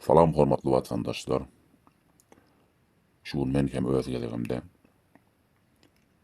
Salam hormatly watandaşlar. Şu gün men hem öz gezegimde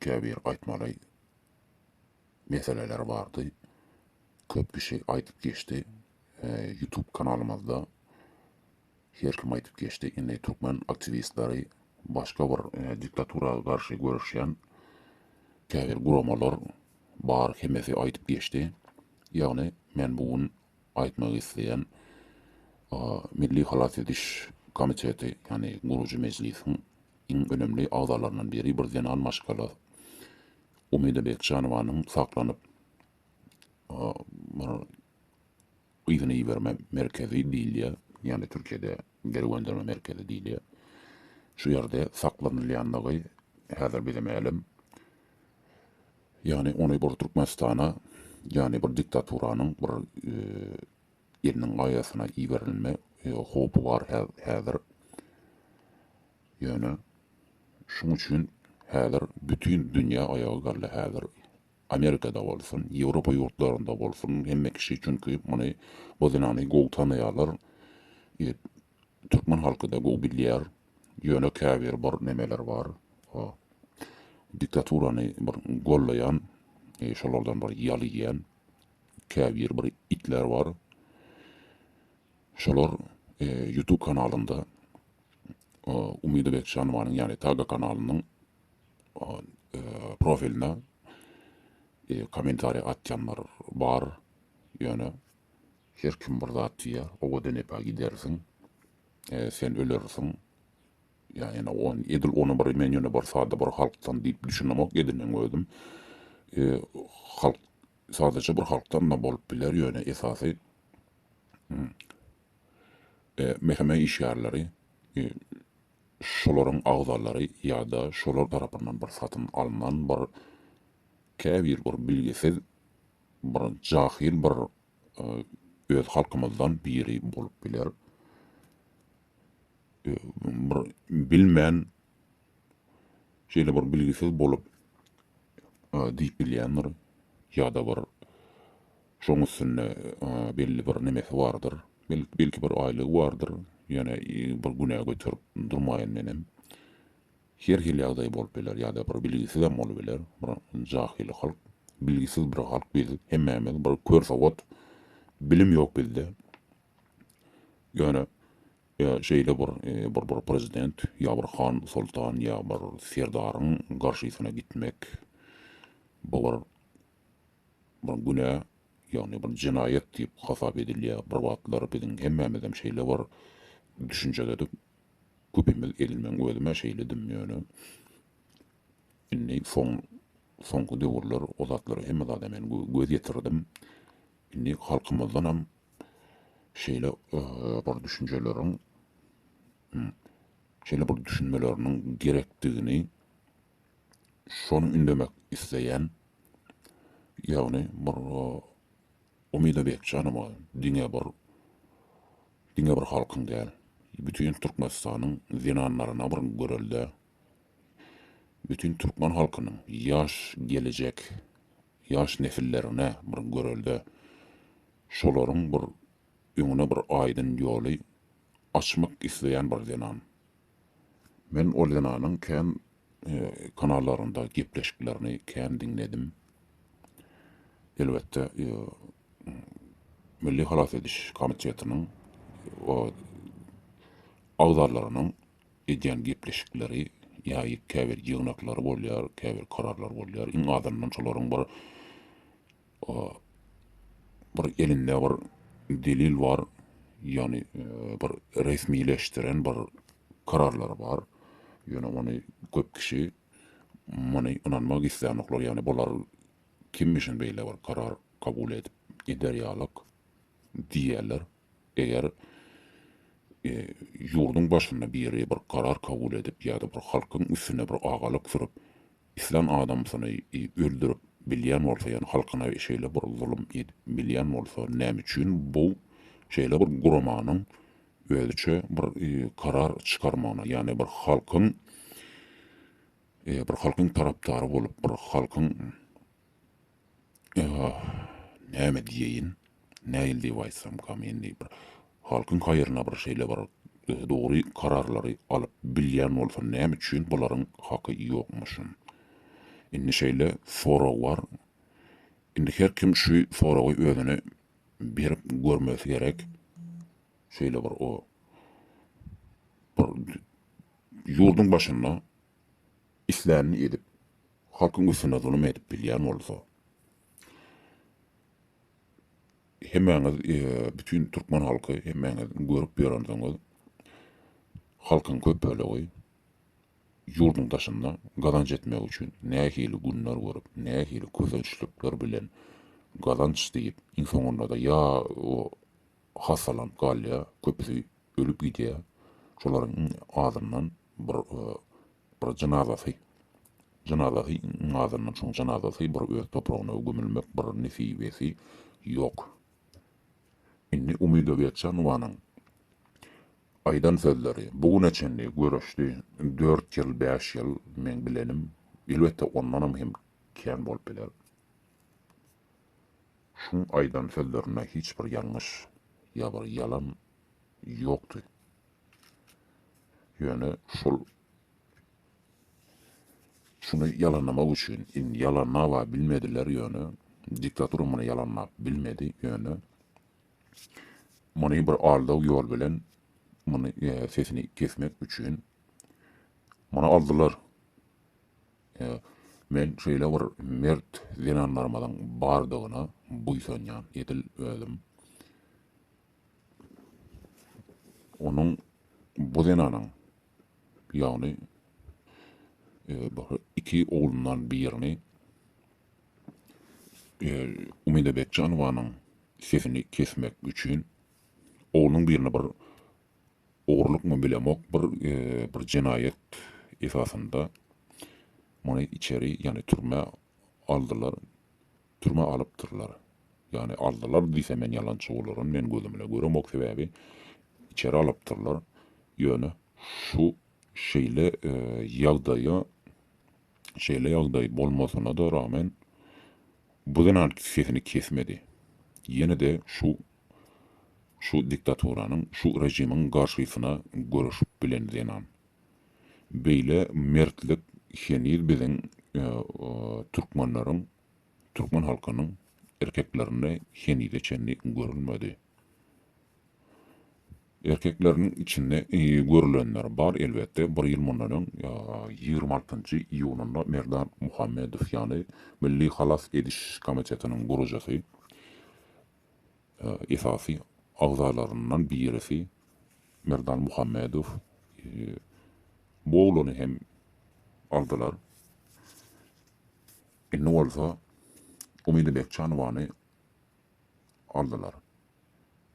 käbir aýtmaly meseleler bardy. Köp kişi aýdyp geçdi. YouTube kanalymyzda her kim aýdyp geçdi. Indi türkmen aktiwistleri başga bir diktatura garşy göreşýän käbir guramalar bar hemmesi aýdyp geçdi. Ýagny men bu gün aýtmak isleýän Milli halas ediş komiteti, ýagny gurujy mejlisiň iň önemli agzalaryndan biri, bir zenan maşgala Umida Bekjanowanyň saklanyp bir yzyna iberme merkezi diýilýär, ýagny Türkiýede geri gönderme merkezi diýilýär. Şu ýerde saklanylýandygy häzir bize mälim. Ýagny ony bir Türkmenistana ýagny bir diktaturanyň bir eliniň gaýasyna iberilme howpy bar häzir. Ýöne şuň üçin häzir bütin dünýä aýaga galdy häzir Amerikada bolsun, Ýewropa ýurtlarynda bolsun hemme kişi çünki muny bu zenany gowy tanaýarlar. Türkmen halky-da gowy bilýär. Ýöne käbir bir nemeler bar. O diktaturany bir gollaýan, e, şolardan bir ýal iýen käbir bir itler bar. Şolar e, YouTube kanalynda e, Umyda Bekjanowanyň, ýagny Taga kanalynyň o, e, profiline e, kommentariýa atýanlar bar. Ýöne Her kim bir zat diýer, owadan epe gidersiň, sen ölersiň. Ýa ene on, edil ony bir men ýöne bir sada bir halkdan diýip düşünemok edinem özüm. Halk sadaja bir halkdan-da bolup biler, ýöne esasy meheme işgärleri şolaryň agzalary ýa-da şolar tarapyndan bir satyn alnan bir käbir bir bilgisiz Bir jahyl bir öz halkymyzdan biri bolup biler. Bir bilmän şeýle bir bilgisiz bolup diýip bilýändir ýa-da bir şoň üstünde belli bir nemesi bardyr. Belki bir aýlygy bardyr. Ýöne bir günä göterip durmaýyn menem. Her hili ýagdaý bolup biler ýa-da bir bilgisizem bolup biler bir jahyl halk bilgisiz bir halk biz hemmämiz bir kör sowat bilim ýok bizde ýöne şeýle bir bir bir prezident ýa bir han soltan ýa bir serdaryň garşysyna gitmek bu bir bir günä ýagny bir jenaýat diýip hasap edilýär bir wagtlar biziň hemmämizem şeýle bir düşünjededik Köpimiz edil meň özümä şeýledim ýöne indi soň soňky döwürler o zatlara hemme zada men göz ýetirdim. Indi halkymyzdanam şeýle bir düşünjeleriň şeýle bir düşünmeleriniň gerekdigini şony ündemek isleýän ýagny bir Umyda Bekjanowa diňe bir Diňe bir halkyň däl, bütin Türkmenistanyň zenanlaryna bir görelde, bütin türkmen halkynyň ýaş gelejek ýaş nesillerine bir görelde, şolaryň bir öňüne bir aýdyn ýoly açmak isleýän bir zenan. Men ol zenanyň kän kanallarynda gepleşiklerini kän diňledim. Elbetde Milli halas ediş komitetiniň agzalarynyň edýän gepleşikleri ýa käbir ýygnaklary bolýar, käbir kararlar bolýar. Iň azyndan şolaryň bir bir elinde bir delil bar, ýagny bir resmileşdiren bir kararlary bar. Ýöne ony köp kişi muny ynanmak islänoklar, ýagny bular kimmişin beýle bir karar kabul edip gider ýalak diýýärler. Eger ýurduň başynda biri bir karar kabul edip ýa-da bir halkyň üstüne bir agalyk sürüp, Islan adamsyny öldürip bilýän bolsa ýa halkyna şeýle bir zulum edip bilýän bolsa näme üçin bu şeýle bir guramanyň özüçe bir karar çykarmagyna ýagny bir halkyň bir halkyň tarapdary bolup bir halkyň Ýa-ha, näme diýeýin, nähili diýip aýtsamkam, indi bir halkyň haýryna bir şeýle bir dogry kararlary alyp bilýän bolsam, näme üçin bularyň haky ýokmuşyn? Indi şeýle sorag bar. Indi her kim şu soragy özüne berip görmesi gerek. Şeýle bir o bir ýurduň başynda islänini edip, halkyň üstüne zulum edip bilýän bolsa, hemmäňiz, bütin türkmen halky, hemmäňiz görüp ýörensiňiz, halkyň köp bölegi ýurduň daşynda gazanç etmek üçin nähili günler görüp, nähili kösençlikler bilen gazanç diýip, iň soňunda-da ýa hassalanyp galýar, köpüsi ölüp gidýär, şolaryň iň azyndan Bir bir jynazasy jynazasy azyndan çoň jynazasy bir öz topragyna gömülmek bir nesibesi ýok. Indi Umyda Geçenowanyň aýdan sözleri, bu güne çenli göreşdi, dört ýyl, bäş ýyl meň bilenim, elbetde ondanam hem kän bolup biler. Şuň aýdan sözlerinde hiç bir ýalňyş ýa bir ýalan ýokdy. Ýöne şol şuny ýalanlamak üçin indi ýalanlaba bilmediler ýöne diktatura muny ýalanlap bilmedi ýöne muny bir aldaw ýol bilen muny e, sesini kesmek üçin muny aldylar. E, men şeýle bir mert zenanlarymyzyň bardygyna buýsanýan edil özüm. Onuň bu zenanyň, ýagny bir iki oglundan birini Umyda Bekjanowanyň sesini kesmek üçin oglunyň birini bir ogurlykmy bilemok, bir bir jenaýat esasynda muny içeri, ýagny türmä aldylar. Türmä alypdyrlar. Ýagny aldylar diýsem men ýalançy bolaryn, men gözümle göremok sebäbi içeri alypdyrlar. Ýöne şu şeýle ýagdaýa şeýle ýagdaý bolmasyna-da ragmen bu zenan sesini kesmedi. Ýene-de şu şu diktaturanyň, şu režimiň garşysyna göreşip bilen zenan. Beýle mertlik heniz biziň türkmenleriň Türkmen halkynyň erkeklerinde henize çenli görülmedi. Erkekleriniň içinde görülenler bar elbetde, bir ýyl mundan öň ýigrimi altynjy iýunynda Merdan Muhammedow ýaly Milli halas ediş komitetiniň gurujysy, esasy agzalaryndan birisi Merdan Muhammedow bu oglany hem aldylar. Indi bolsa Umyda Bekjanowany aldylar.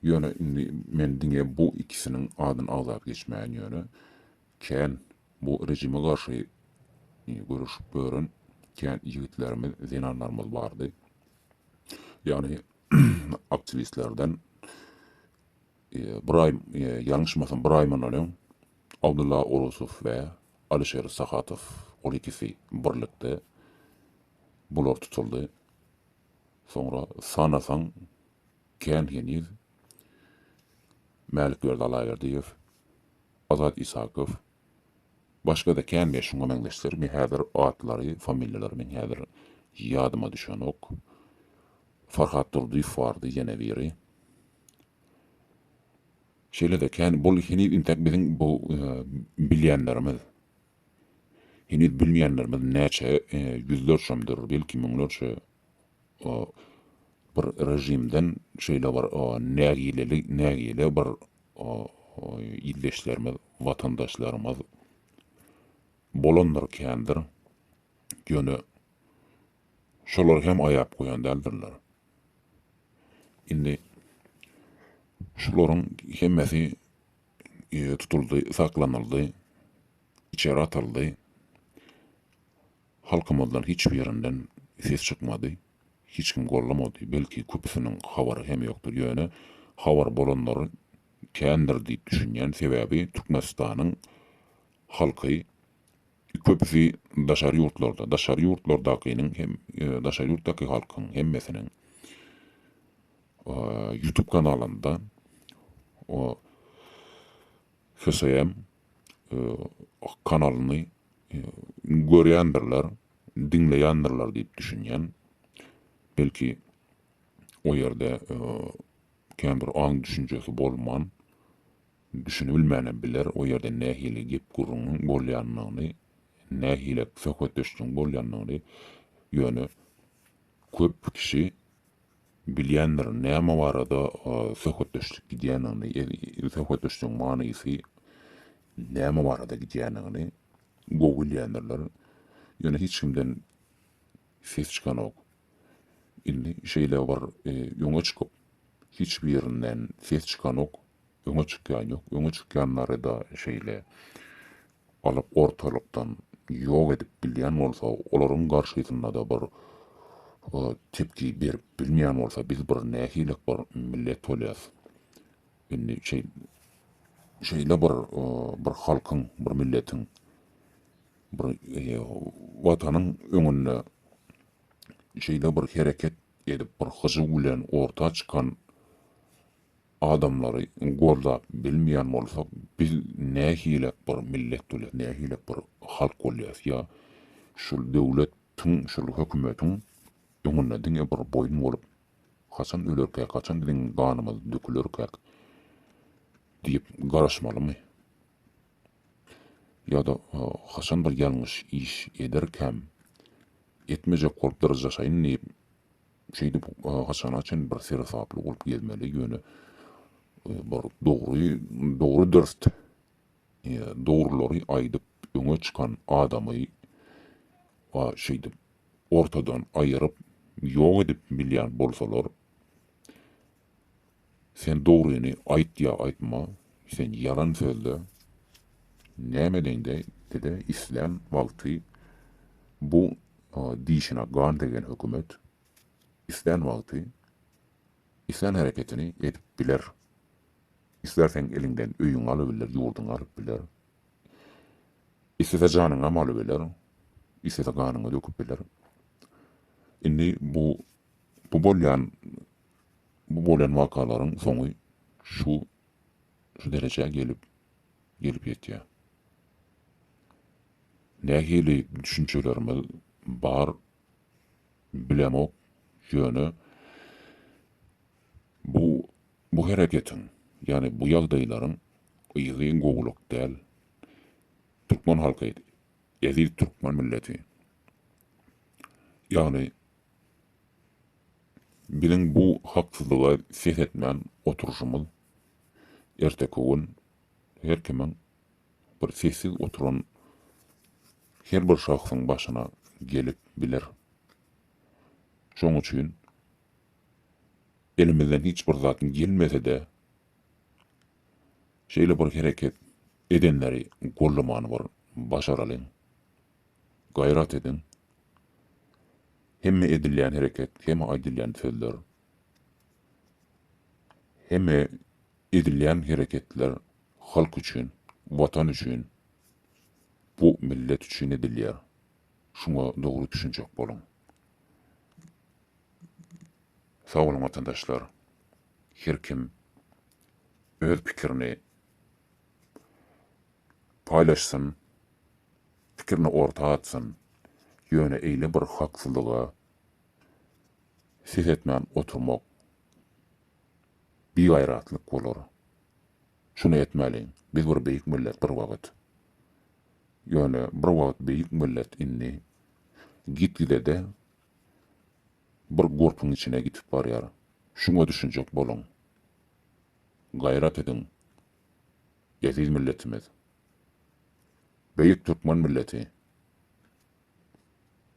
Ýöne indi men diňe bu ikisiniň adyny agzap geçmäýin ýöne kän bu rejime garşy göreşip ýören kän ýigitlerimiz, zenanlarymyz bardy. Ýagny aktiwistlerden Ybraýym, ýalňyşmasam Ybraýym mundan öň Abdylla Orusow we Alyşer Sahatow ol ikisi birlikde bular tutuldy. Soňra sanasaň kän heniz Mälikberdi Allaberdiýew, Azat Isakow, başgada kän we şuňa meňzeşler men häzir atlary, familiýalary men häzir ýadyma düşenok. Farhat Durdyýew bardy ýene biri. Şeýle-de kän bul heniz intek biziň bu bilýänlerimiz. Heniz bilmeýänlerimiz näçe ýüzlerçemdir, belki müňlerçe bir režimden şeýle bir nägileli nägile bir ildeşlerimiz, watandaşlarymyz bolandyr kändir. Ýöne şolar hem aýap goýan däldirler. Indi şularyň hemmesi tutuldy, saklanyldy, içeri atyldy. Halkymyzdan hiç birinden ses çykmady. Hiç kim gollamady. Belki köpüsiniň habary hem ýokdur. Ýöne habary bolanlary kändir diýip düşünýän. Sebäbi Türkmenistanyň halky Köpüsi daşary ýurtlarda, daşary ýurtlardakynyň hem daşary ýurtdaky halkyň hemmesiniň YouTube kanalynda HSM kanalyny görýändirler, diňleýändirler diýip düşünýän. Belki o ýerde kän bir aň düşünjesi bolman, Düşünibilmänem biler o ýerde nähili gep-gürrüňiň bolýanyny, nähilek söhbetdeşligiň bolýanyny, ýöne köp kişi bilýändir näme barada söhbetdeşlik gidýänini, söhbetdeşligiň manysy näme barada gidýänini gowy bilýändirler, ýöne hiç kimden ses çykanok. Indi şeýle bir öňe çykyp, hiç birinden ses çykanok, Öňe çykýan ýok. Öňe çykýanlary-da şeýle alyp ortalykdan ýok edip bilýän bolsa, olaryň garşysynda-da bir tepki berip bilmeýän bolsa, biz bir nähilek bir millet bolýas. Indi şeý şeýle bir bir halkyň, bir milletiň, bir Watanyň öňünde şeýle bir hereket edip, bir hyjuw bilen orta çykan Adamlary goldap bilmeýän bolsak biz nähilek bir millet bolýas nähilek bir halk bolýas ýa şul döwlet tiň şul hökümetiň öňünde diňe bir boýun bolup haçan ölerkäk haçan biziň ganymyz dökülerkäk diýip garaşmalymy ýada haçan bir ýalňyş iş ederkäm etmejek bolup dyryjaşaýyn diýip Şeýdip, haçana çyn bir seresaply bolup gezmeli, ýöne bir dogry, dogry dürst, dogrulary aýdyp öňe çykan adamy a şeýdip ortadan aýyryp ýok edip bilýän bolsalar, Sen dogryny aýt ýa aýtma sen ýalan sözle näme deňde dede islän wagty bu dişine gan degen hökümet islän wagty islän hereketini edip biler islärseň eliňden öýüňi alybiler ýurduňy alyp biler islese janyňam alybiler islese ganyňy döküp biler indi bu bu bolýan Bu bolan wakalaryň soňy şu şu derejä gelip gelip ýetýär. Nähili düşünjelerimiz bar bilemok, ýöne bu bu hereketiň, ýagny bu ýagdaýlaryň yzy gowulyk däl. Türkmen halky, eziz türkmen milleti, ýagny Biziň bu haksyzlyga ses etmän oturyşymyz erteki gün her kimiň bir sessiz oturan her bir şahsyň başyna gelip biler. Şoň üçin elimizden hiç bir zat gelmese-de şeýle bir hereket edenleri gollamany bir başaralyň. Gaýrat ediň! Hemme edilýän hereket, hemme aýdylýan sözler, hemme edilýän hereketler halk üçin, Watan üçin, bu millet üçin edilýär. Şuňa dogry düşünjek boluň. Sag boluň watandaşlar! Her kim öz pikirini. paýlaşsyn, pikirini orta atsyn, ýöne eýle bir haksyzlyga ses etmän oturmak bigaýratlyk bolar. Şuny etmäliň, biz bir beýik millet bir wagt. Ýöne bir wagt beýik millet indi gitgide-de bir gurpuň içine gitip barýar. Şuňa düşünjek boluň. Gaýrat ediň. Eziz milletimiz. Beýik türkmen milleti.